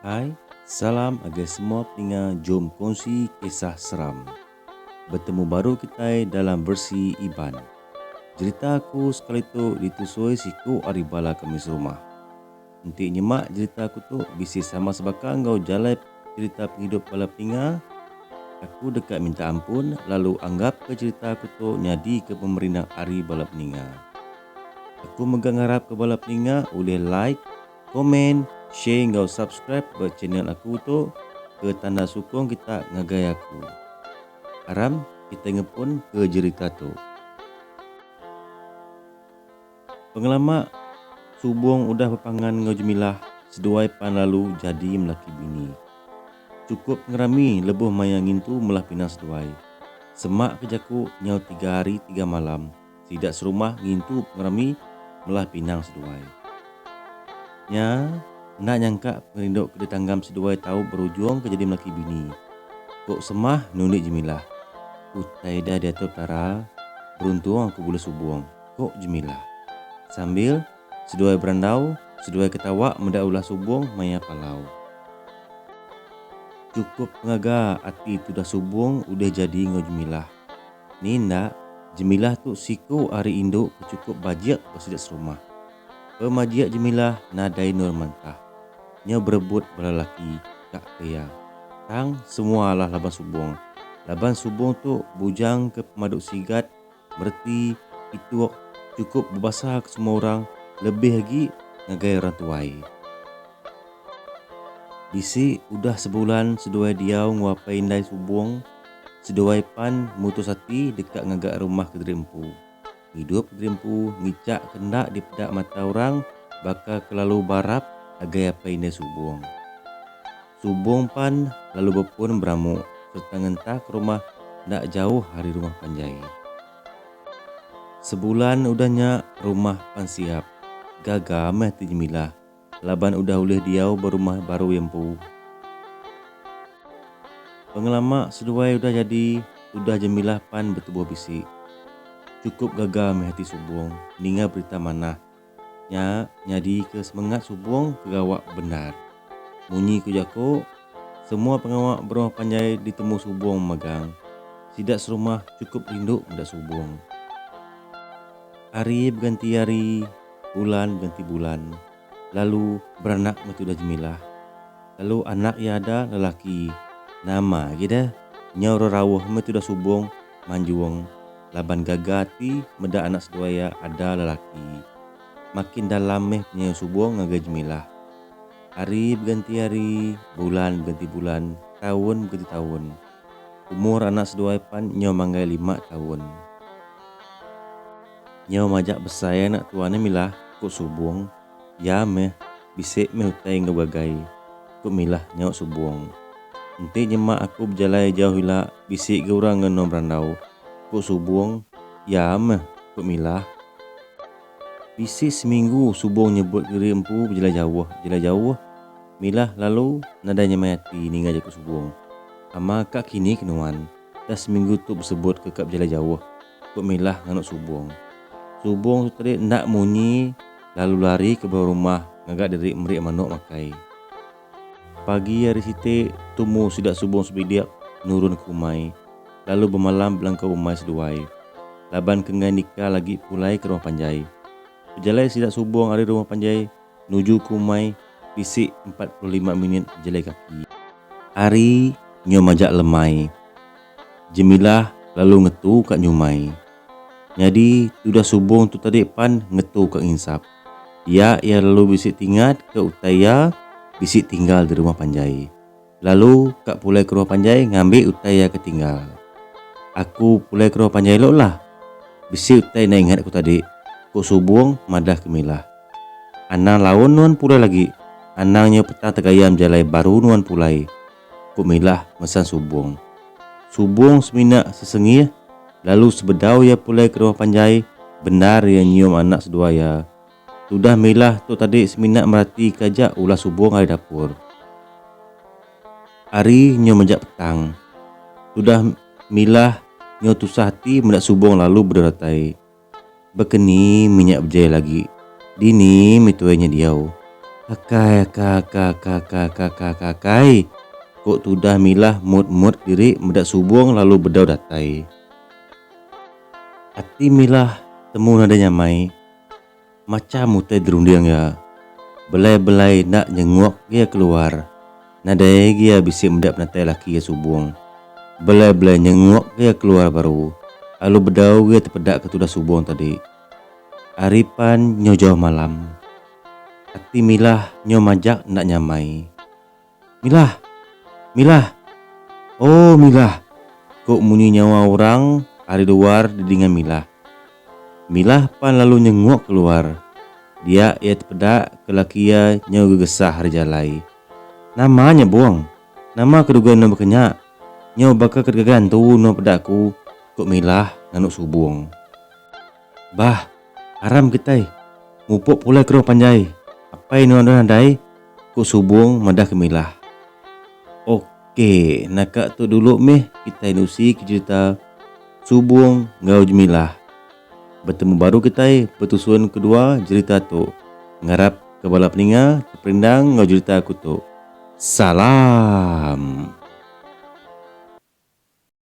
Hai salam agai semua peninga jom kongsi kisah seram. Betemu baru kitai dalam versi Iban. Jerita aku sekali tu ditusui siku ari bala kami serumah. Enti nyema jerita aku tu bisi sama sebaka enggau jalai jerita pengidup bala peninga, aku deka minta ampun lalu anggapka jerita aku tu nyadika pemerinang ari bala peninga. Aku mega ngarapka bala peninga ulih like, Komen, share enggau subscribe ba channel aku tu ke tanda sukung kita ngagai aku. Aram kitai ngepun ke jerita tu. Pengelama Subong udah bepangan enggau Jemilah seduai pan lalu jadi melaki bini. Chukup ngerami lebuh maya ngintu melah pinang seduai. Semak ke jaku nyau tiga hari tiga malam. sida serumah ngintu pengerami melah pinang seduai. Nya, enda nyangka pengerindu ke ditanggam seduai tau berujung ke jadi melaki bini. Ku Semah nundi Jemilah. Utai da diatur Petara, beruntung aku bulih subung, ku Jemilah. Sambil seduai berandau, seduai ketawa meda ulah subung maya palau. Chukup pengaga ati tudah subung ulih jadi enggau Jemilah. Ni enda, Jemilah tu siku ari indu ke chukup bajik ba sida serumah. Pemajik Jemilah nadai endur mentah. Nya berebut bala laki ka ke iya. Tang, semua alah laban Subong. Laban Subong tu bujang ke pemadu sigat, mereti, ituk, chukup bebasa ke semua orang lebih agi ngagai orang tuai. Bisi udah sebulan seduai diau enggau apai indai Subong. Seduai pan mutus ati deka ngaga rumah kediri empu. Idup kediri empu ngicak ke enda dipeda mata orang baka ke lalu barap agai apai indai Subong. Subong pan lalu bepun beramu sereta ngentah ke rumah enda jauh ari rumah panjai. Sebulan udah nya rumah pan siap. Gaga meh ati Jemilah Laban udah ulih diau ba rumah baru iya empu. Pengelama seduai udah jadi tudah Jemilah pan betubuh bisi. Chukup gaga meh ati Subong ninga berita manah nya nyadika semengat Subong ke gawa bendar. Munyi ku jako, semua pengawa berumah panjai ditemu Subong megang. Sida serumah chukup rindu meda Subong. Ari beganti ari. bulan genti bulan lalu beranak meh tudah Jemilah lalu anak iya ada lelaki nama agi deh nyau rerauh meh tudah Subong manjung laban gaga ati meda anak seduai iya ada lelaki makin dalam meh penyayau Subong ngagai Jemilah hari begenti hari bulan begenti bulan taun begenti taun umur anak seduai pan nyau manggai lima taun. Nyau majak besai anak tua ne milah, ku Subong. Ya meh, bisi meh utai enggau begagai, ku Milah nyaut Subong. Enti nyema aku bejalai jauh ila bisi ga orang ngenoh berandau, ku Subong. Ya meh, ku Milah. Bisi seminggu Subong nyebut diri empu bejalai jauh, bejalai jauh. Milah lalu nadai nyemai ati ninga jaku Subong. Ama ka kini ke nuan. Dah seminggu tu besebut ke ka bejalai jauh, ku Milah nganu Subong. Subong tu tadi enda munyi lalu lari ke bawai rumah ngaga diri meri manok makai. Pagi hari siti, tumu sida Subong sebidik nurun ke umai lalu bemalam belangkau umai seduai laban ke enggai nikal agi pulai ke rumah panjai. Bejalai sida Subong ari rumah panjai, nuju ke umai bisi empat puluh lima minit bejalai kaki. Ari nyau majak lemai, Jemilah lalu ngetu ka nyumai. Nyadi tudah subong tu tadi pan ngetu ka nginsap. Dia iya lalu bisi tingat ke utai iya bisi tinggal di rumah panjai. Lalu ka pulai keruh panjai ngambi utai iya ke tinggal. Aku pulai keruh panjai elo lah. Bisi utai enda ingat aku tadi, ku Subong madah ke Milah. Anang laun nuan pulai lagi, anang nyau petang tegayam jalai baru nuan pulai, ku Milah mesan Subong. Subong semina sesengih lalu sebedau iya pulai keruh panjai bendar iya nyium anak seduai iya. Tudah milah tu tadi semina merati ke aja ulah subung ari dapur. Ari nyu mejak petang. Tudah milah nyu tusah ati meda subung lalu bedau datai. Bekeni mi nya bejai lagi. Dini mi tuai nya diau. Akai aka aka aka aka aka aka aka akai. Ku tudah milah mut mut diri meda subung lalu bedau datai. Ati milah temu nadai nyamai. Macham utai berunding iya, belai-belai enda nyenguk iya keluar. Nadai agi iya bisi meda penatai laki iya subung. Belai-belai nyenguk iya keluar baru, alu bedau iya tepedaka tudah subung tadi. Ari pan nyo jauh malam. Ati Milah nyo majak enda nyamai. Milah! Milah! Oh, Milah! ku munyi nyawa orang ari luar didinga Milah. Milah pan lalu nyenguk keluar. Dia iya tepeda ke laki iya nyau gegesah ari jalai. Nama nya, Bung? Nama ke duga nuan baka nya? Nyau baka ke dega gantu nuan peda aku, ku Milah nganu subung. Bah, aram kitai mupuk pulai keruh panjai apai nuan udah nadai, ku Subong madah ke Milah. Ok, naka tu dulu mih kitai nusi ke cerita Subong enggau Jemilah. Betemu baru kitai betusun kedua jerita tu. Ngarap ke bala peninga teperindang enggau jerita aku tu. Salam!